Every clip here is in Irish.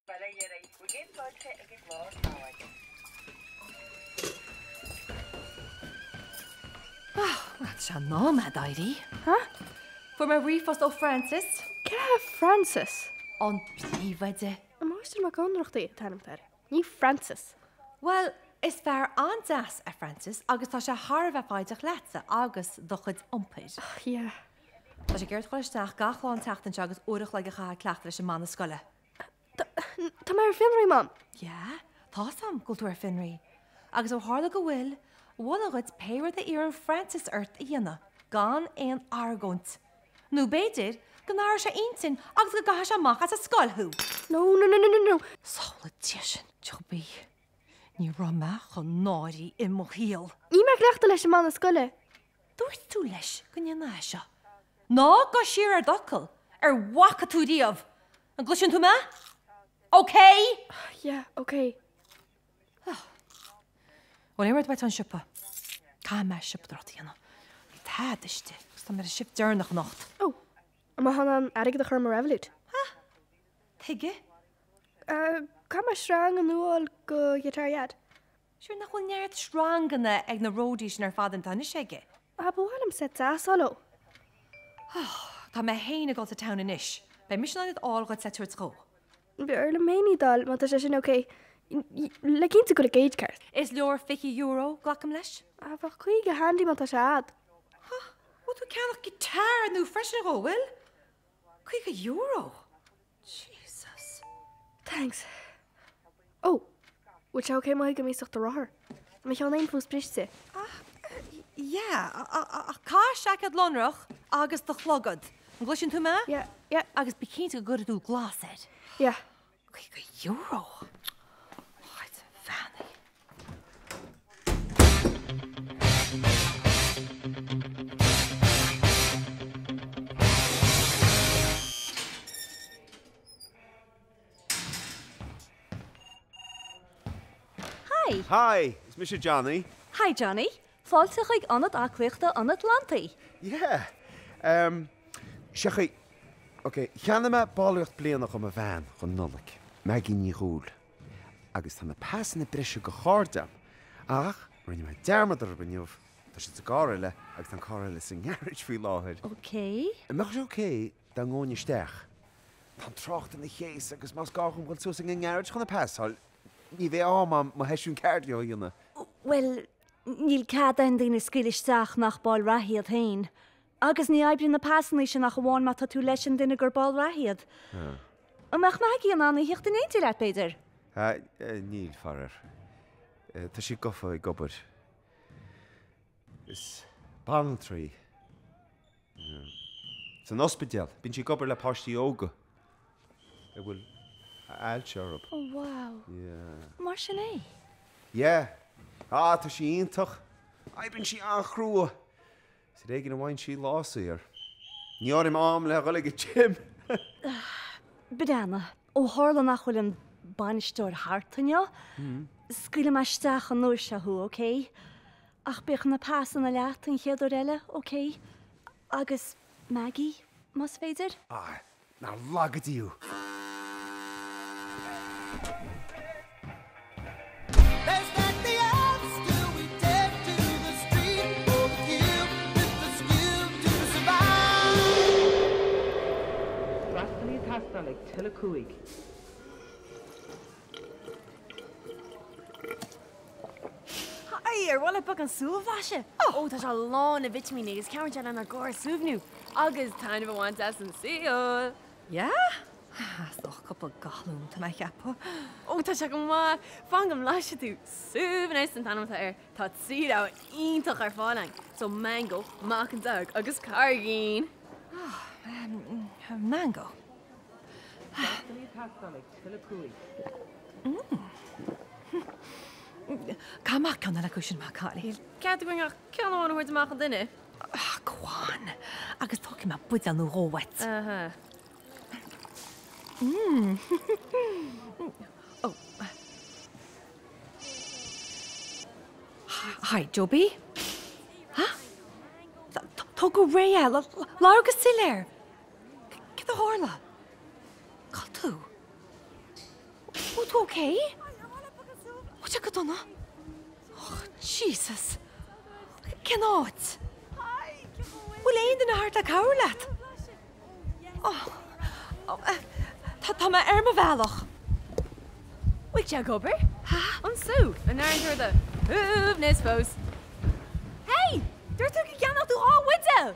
Ba léir ar aghaidh go gcéadfáiltí ag an gclár tábhairne. Bhuel, tá sé in am a'd éirí. Ha? Fuair mé ríomhphost ó Francis. Cé hé Francis? An príomhoide. An Máistir Mac Ionnrachtaigh an t-ainm atá air, ní Francis. Bhuel, is fear an-deas é Francis agus tá sé thar a bheith foighdeach leatsa agus do chuid iompair. Ach yeah. Tá sé ag iarraidh ort a dhul isteach gach lá an tseachtain seo agus uair a chloig a chaitheamh ag cleachtadh leis an mbanna scoile. Tá mé ar fionraí, Mam. Yeah, tá's a'm go bhfuil tú ar fionraí. Agus ó tharla go bhfuil, mholfainn dhuit pé rud a iarrann Francis ort a dhéanamh, gan aon argóint. Nó b'fhéidir, go n-athróidh sé a intinn agus go gcaithfidh sé amach as an scoil thú! No, no, no, no, no, no! Samhlaigh, dia sin, Joe B. Ní raibh mé chomh náirithe i mo shaol. Níl mé ag cleachtadh leis an mbanna scoile. Dúirt tú leis go ndéanfá é seo. Ná gabh siar ar d'fhocal ar a bhfaca tú riamh. An gcloiseann tú mé? Okay? Yeah, okay. Bhuel, aon rud uait ón siopa? Caithfidh mé siopadóireacht a dhéanamh. Níl tada istigh agus tá mé ar an shift deireanach anocht. Oh. An mbeifeá in ann airgead a chur i mo revolut? Tuige? Caithfidh mé sreang nua a fháil do guitar Dhaid. Sure, nach bhfuil neart sreanganna ag na roadies sin ar fad atá anois aige? Ah, ba mhaith liom seit deas a fháil dó. Oh, tá mé féin ag dul to town anois. Beidh mise in ann iad fháil dhuit le tabhairt dhó. B'fhearr liom féin iad fháil, má tá sé sin ok. Le cinntiú go bhfuil an gauge ceart. Is leor fiche euro, glacaim leis? Ah, bheadh caoga handy má tá sé a'd. Huh, bhfuil tú ag ceannach guitar nua freisin dhó, bhfuil? Caoga euro! Jesus! Thanks. Oh! Bhfuil sé ok má thógaim iasacht do rothar? Tá mo cheann féin fós briste. Ah, yeah, ach caith seaicéad lonrach agus do chlogad. An gcloiseann tú mé? Yeah, yeah. Agus bí cinnte go gcuirfidh tú glas air. Yeah. Euro. What? Fanny. Hi. Hi, it's Mr. Johnny. Hi, Johnny. Fáilte chuig Ionad Aclaíochta an Atlantaigh! Yeah! Em, seachain, ok, cheannaigh mé ballraíocht bliana dho mo bhean dhon Nollaig, Maggie Ní Dhúill, agus tá na pasanna breise dho chairde a'm, ach rinne mé dearmad orthub inniu, tá siad sa gcarr eile agus tá an carr eile sa ngarage faoi láthair. Ok. An mbeadh sé ok dá ngóinn isteach? Tá an trácht ina chéas agus más gá dhom dhul suas ag an ngarage chun an pas a fháil, ní bheidh am a'm mo sheisiún cardio a dhéanamh. Bhuel, Níl cead aon duine a scaoileadh isteach nach ball reatha iad féin. Agus ní oibríonn na pasanna sin ach amháin má tá tú leis an duine gur ball reatha iad. An mbeadh Maggie in ann a thíocht in éineacht leat, b'fhéidir? Níl, faraor. Tá sí gafa ag obair. Is banaltra í. san ospidéal. Bíonn sí ag obair le páistí óga a bhfuil ailse orthu. Oh wow. Yeah. Mar sin é? Yeah. Ah, tá sí iontach. Oibríonn sí an-chrua. Is ar éigin a bhíonn sí lá saor. Ní áirím am le dhul ag an gym. Banana. Ó tharla nach bhfuil an bainisteoir thart inniu, scaoilfidh mé isteach an uair seo thú, OK? Ach bíodh na pasanna leat an chéad uair eile, OK? Agus Maggie, más féidir? Ah, nár laga Dia thú! Freastalaí ag teastáil ag till a cúig. Haigh! Ar mhaith leat beagán sú a bhlaiseadh? Ó, tá sé lán le vitimíní agus cabhraíonn sé lenár gcóras a shuaimhniú agus taitneamh a bhaint as an saol! Yeah! Ach tá cúpla galún uaim tá mé ag ceapadh. Oh tá sé go maith! Fan go mblaisfidh tú! Suaimhneas an t-ainm atá air, tá trí bhlas iontach ar fáil ann, so Mango, Meacan Dearg agus Carraigín! Ah, Mango. Freastalaí ag teastáil ag till a cúig. Caith amach ceann eile acu sin, maith an cailín? Níl cead againn ach ceann amháin a thabhairt amach an duine. Ah, go on! Agus tógfaidh mé buidéal nó dhó uait. Aha. Hi, Joby. Ha? Tóg go réidh é. Labhair go soiléir. Céard a tharla? Cá bhfuil tú? Bhfuil tú ok? Ó tá go dona. Och Jesus. Cén áit? Bhfuil aon duine thart le cabhrú leat? Tá, tá mé ar mo bhealach. Bhfuil sé ag obair? Ha? An sú an airíonn tú ar do shuaimhneas fós. Hey! Dúirt tú go gceannófá dhá bhuidéal!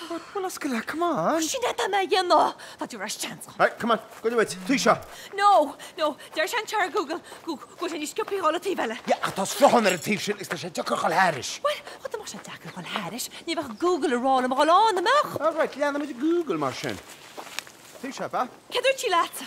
Sin atá mé a dhéanamh! Tá tú ar ais, seans. Right, come on, gabh i leith, an taobh seo. No, no, deir sé anseo ar Google go bhfuil sé níos scioptha dhul an taobh eile. Yeah, ach tá sruthán ar an taobh sin agus tá sé deacair dhul thairis. Bhuel, bhuel, dá mbeadh sé deacair dhul thairis, ní bheadh Google ag rá liom a dhul ann, an mbeadh? Alright, leanfaimid Google mar sin. An taobh seo, ab ea? Céard a dúirt sí leatsa?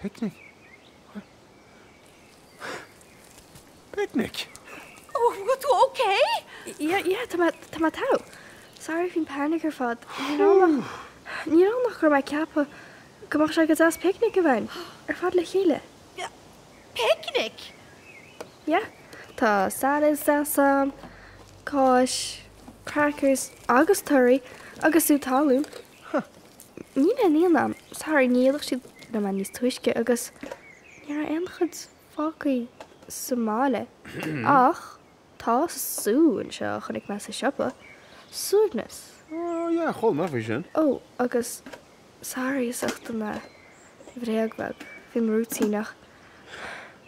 Picnic? Picnic? Ó, bhfuil tú okay? Yeah, yeah, tá mé, tá mé togha. Sorry faoin panic ar fad. Níl ann ach, níl ann ach go raibh mé ag ceapadh go mbeadh sé go deas picnic a bheith againn ar fad le chéile. Picnic? Yeah, tá salads deas ann, cáis, crackers agus torthaí agus sú talún. Huh. Níl aon fhíon ann. Sorry, ní dhíolfadh siad liom é níos túisce agus ní raibh aon chuid fágthaí sa mbaile. Ach tá sú anseo a chonaic mé sa siopa. Suaimhneas. Oh, yeah, chuala mé faoi sin. Oh, agus sorry as ucht an eh, bhréag bheag faoi mo rúitín ach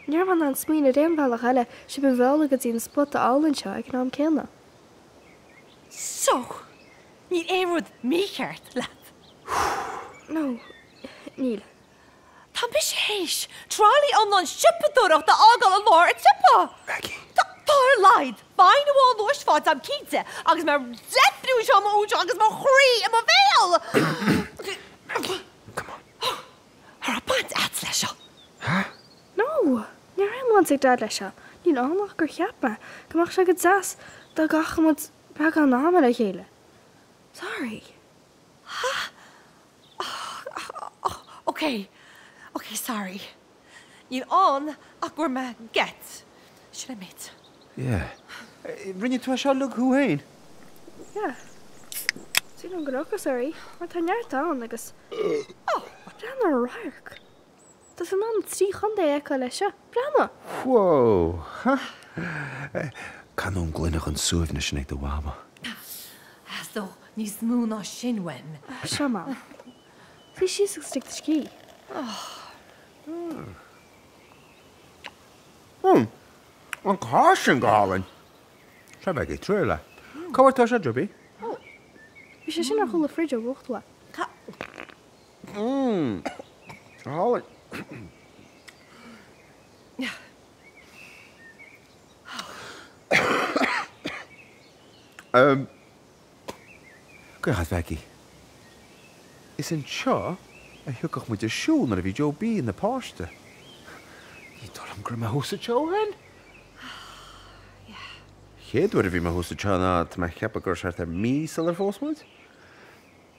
Ní raibh mé in ann smaoin' ar aon bhealach eile, sibh a mhealladh go dtí an spota álainn seo ag an am céanna. So! Níl aon rud mícheart leat. No, níl. Tá mise théis tralaí iomlán siopadóireacht a fhágáil i lár an tsiopa. Maggie. Tá ar a laghad fine amháin luais faighte a'm cinnte, agus mé ag deifriú anseo mo údar agus mo chroí i mo bhéal. Maggie, come on. An raibh baint a'd leis seo. Ha? No, ní raibh aon bhaint ag Dad leis seo. Níl ann ach gur cheap mé go mbeadh sé go deas dá gcaithfeadh muid beagán ama le chéile. Sorry. Ha? Ok, ok, sorry. Níl ann ach go bhfuair mé geit. Should I mit? Yeah. Rinne tú é seo leat féin? Yeah. Sin an gnóthas, sorry, mar tá neart ann agus. Déan an radharc. Tá mé in ann trí chontae a fheiceáil as seo. Breathnaigh! Whoa! Canóin gloine den Suaimhneas sin ag do Mhama. Sea, níos mó ná sin, when. Seo Mam. Suigh síos agus lig do scíth. Mmm! An cháis sin go hálainn! Seo bheidh ag triail é. Cá bhfuair tú seo, Joe B? Bhí sé sin ar chúl an fridge ó uchtú é. Caochadh Mhaggie. Is anseo a thiocfadh muid ag siúl nuair a bhí Joe B ina páiste. Ní dóigh liom go raibh mé thuas anseo ó shin! Chéad uair a bhí mé thuas anseo ná tá mé ag ceapadh gur thart ar mí sular phós muid.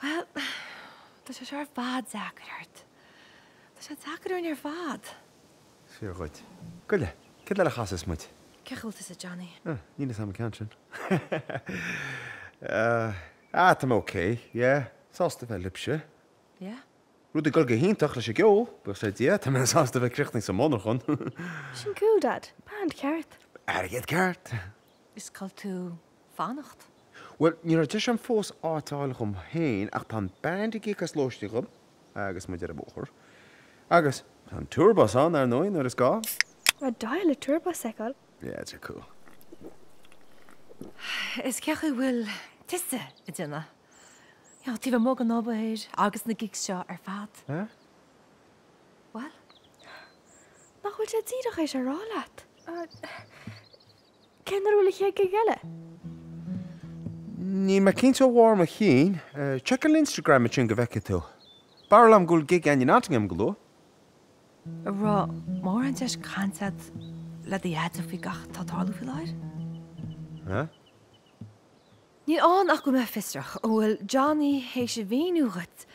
Bhuel, tá sé seo ar fad deacair ort. Tá sé deacair orainn ar fad. Fíor dhuit. Goile, céard eile a chasfas muid? Cén chaoi a bhfuil tusa Johnny? Ah, níl fhios a'am an ceann sin. Ah, tá mé ok, yeah. Sásta bheith libhse. Yeah? Rudaí ag dul go hiontach leis an gceol, buíochas le Dia, tá mé sásta bheith críochnaithe sa monarchan. Sin cool Dad, band ceart. Airgead ceart. Is cá bhfuil tú fanacht. Bhuel, ní raibh deis agam fós áit a fháil dhom féin ach tá an Band ag íoc as lóistín dhom agus muid ar an mbóthar. Agus tá an Tour Bus ann, ar ndóigh, nuair is gá! B'aoibhinn liom an Tour Bus a fheiceáil. Yeah, tá sé cool. Is cén chaoi a bhfuil tusa ag déanamh, you know, taobh amuigh den obair agus na gigs seo ar fad. Huh? Bhuel? Nach bhfuil sé díreach théis a rá leat? Cén uair a bhfuil an chéad gig eile? Níl mé cinnte de bharr mo chinn. Check an Instagram ansin go bhfeicfidh tú. Barúil agam go bhfuil gig againn i Nottingham go luath. An raibh mórán deis cainte agat le do dheaide faoi gach atá ag tarlú faoi láthair? Níl ann ach go mbeinn fiosrach. An bhfuil Johnny théis a mhíniú dhuit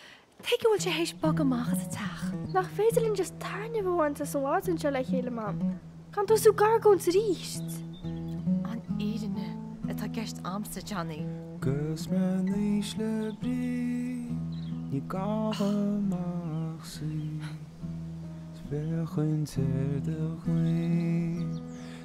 tuige a bhfuil sé théis bogadh amach as an teach? Nach féidir linn just taitneamh a bhaint as an bpicnic seo le chéile, Mam, gan tosú ag argóint aríst? An fhírinne atá i gceist a'msa, Johnny. 'Gus me 'nois le Bríd ní gabhaim ach suí 's féachaint ar do ghlinn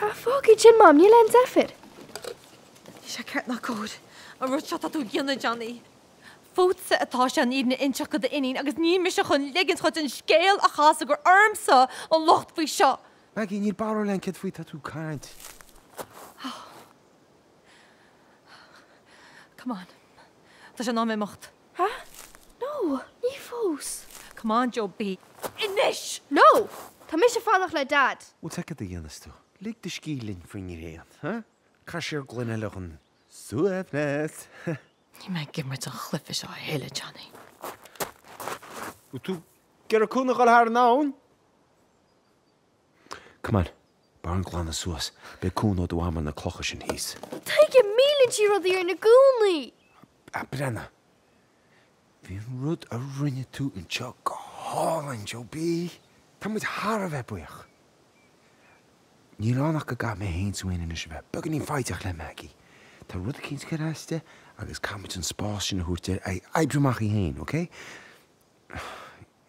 Ah, fág iad sin, Mam, níl aon deifir. Níl sé ceart ná cóir an rud seo atá tú ag déanamh, Johnny. Fútsa atá sé an fhírinne a inseacht do d'iníon agus níl mise chun ligint dhuit an scéal a chasadh gur ormsa an locht faoi seo. Maggie, níl barúil agam céard faoi atá tú ag caint. Come on, tá sé in am imeacht. Hea? No! Ní fós! Come on, Joe B. Anois! No! Tá mise ag fanacht le Dad! Ó céard a dhéanfas tú? Lig do scíth linn faoin ngréan, hea? Caith siar gloine eile dhon suaimhneas, hea? Níl mé ag imirt an chluife seo a thuilleadh, Johnny. Bhfuil tú ag iarraidh cúnamh a dhul thar an abhainn? Come on, b'fhearr dúinn glanadh suas, beidh cúnamh ó do mham ar na clocha sin thíos. Tuige, milleann sí rudaí orainn i gcónaí! A Brianna, bhí an rud a rinne tú anseo go hálainn, Joe B! Tá muid thar a bheith buíoch. Níl ann ach go gcaithfidh mé féin is do mham anois a bheith beagáinín foighdeach le Maggie. Tá rud eicínt ag cur as di agus caithfimid an spás sin a thabhairt di é a oibriú amach í féin, okay?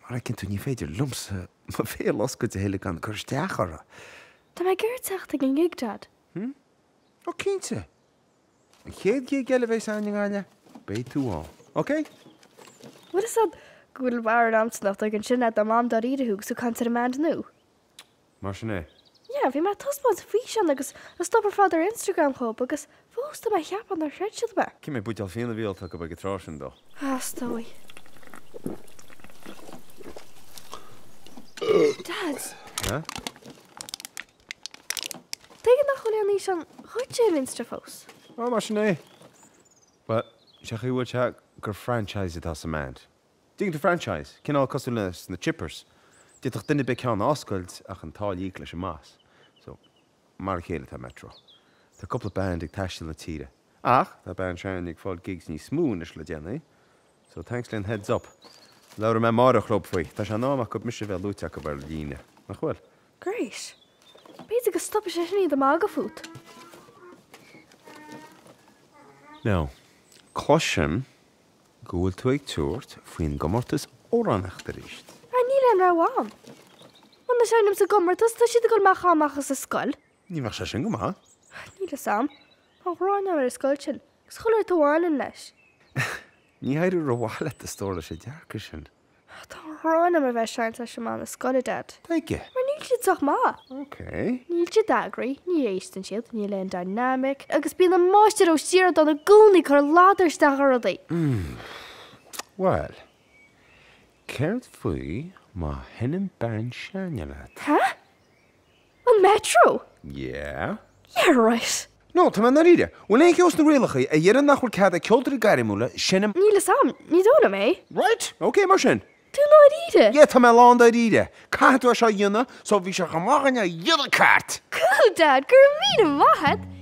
Mar a fheiceann tú, ní féidir liomsa mo bhéal a oscailt a thuilleadh gan cur isteach orthu! Tá mé ag iarraidh teacht ag an ngig, Dad. Hmm? Ó cinnte! An chéad gig eile a bheidh ann i nGaillimh, beidh tú ann. OK? Bhfuil 'fhios a'd go bhfuil Warren Anson ag dul ansin le do Mham dáiríre thú agus tú ag caint ar an mBand nua? Mar sin é. Yeah, bhí mé ag taispeáint an físeán agus an stuff ar fad ar Instagram dóibh, agus fós tá mé ag ceapadh nár chreid siad mé. Cé mhéad buidéal fíona a bhí ólta acu ag an tráth sin though, a stór? Dad! Huh? Tuige nach bhfuil aon fhíseán dhíot ar Insta fós? Oh, mar sin é. Bhuel, sé an chaoi a bhfuil sé gur franchise atá sa mBand. Digital franchise, cineál cosúil leis na chippers. D'fhéadfadh duine ar bith ceann a oscailt ach an táille a íoc leis an mboss. So, mar a chéile atá Metro. Tá cúpla band ag taisteal na tíre. Ach, tá band s'againne ag fáil gigs níos mó anois le déanaí. So, thanks for the heads up. Labhróidh mé amárach leob faoi. Tá sé in am acub mise a bheith luaite acub ar líne. Nach bhfuil? Great. B'fhéidir go stopfaidh sé sin iad a magadh fút. Now, cloisim. go bhfuil tú ag tabhairt faoin gcomórtas amhránaíochta arís? Ara níl aon rogha agam. Muna seinnim sa gcomórtas tá siad ag dul mé a chaitheamh amach as an scoil. Ní bheadh sé sin go maith. Níl fhios a'm. Tá an ghráin agam ar an scoil sin. Is chuile shórt a bhaineann leis. Ní éireoidh rómhaith leat a stór leis an dearcadh sin. Tá an ghráin orm a bheith ag seinnt leis an mbanna scoile, Dad. Tuige? Mar níl siad sách maith. Ok. Níl siad eagraithe, ní éisteann siad, níl aon dynamic, agus bíonn an máistir Ó Sioradáin i gcónaí ag cur ladar isteach i rudaí. Umm. Bhuel, céard faoi má sheinneann band s'againne leat? Hah? An Metro? Yeah. Yeah, right. No, tá mé i ndáiríre. Bhfuil aon cheo sna rialacha a deireann nach bhfuil cead ag ceoltóirí gairmiúla seinm? Níl 'fhios a'm, ní dóigh liom é. Right, ok mar sin. Tú i ndáiríre? Yeah, tá mé lán dáiríre. Caithfidh tú é seo a dhéanamh, so bhí sé chomh maith againn é a dhéanamh ceart! Cool, Dad, go raibh míle maith a'd!